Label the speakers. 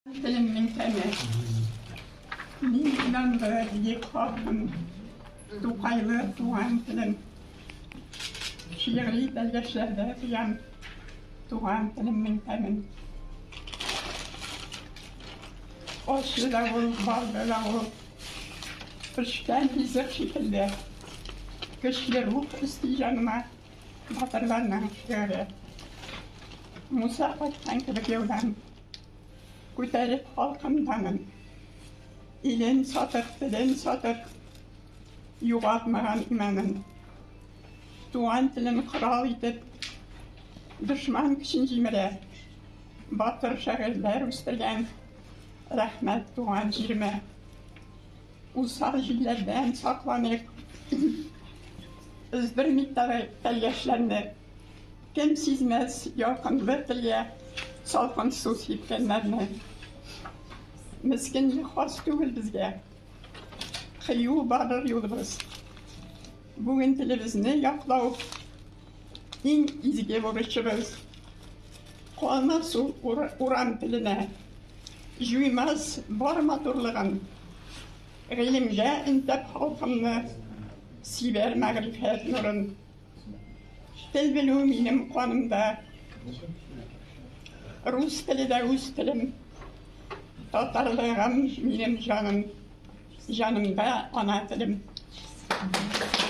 Speaker 1: Телем меңтәне. Мин инанлы, биек халкым, Тукайлы туган телем. Шигъри белгечләрдә тоям, Туган телем меңтәмен. Ачы да ул, балды да ул. Пешкән ризык шикелле. Көчле рух өсти җаныма. Батырларның шигыре. Муса кайткан кебек юлдан. Күтәреп халкым данын. Илен сатып, телен сатып, югалтмаган иманын. Туган телен корал итеп, дошман көчен җимерә. Батыр шагыйрьләр үстергән, рәхмәт туган җиремә. Усал җилләрдән сакланып, өздермик тәлгәшләрне. Кем сизмәс якынлы тия, салкын су сипкәннәрне. Мескенлек хас түгел безгә, кыю барыр юлыбыз. Бүген телебезне яклау иң изге бурычыбыз. Калмас ул урам теленә, җуймас бар матурлыгын. Гыйлемгә интәп халкымны, сибәр мәгърифәт нурын. Тел белү минем канымда. Рус теле дә үз телем. Татарлыгым минем җаным. Җанымда ана телем.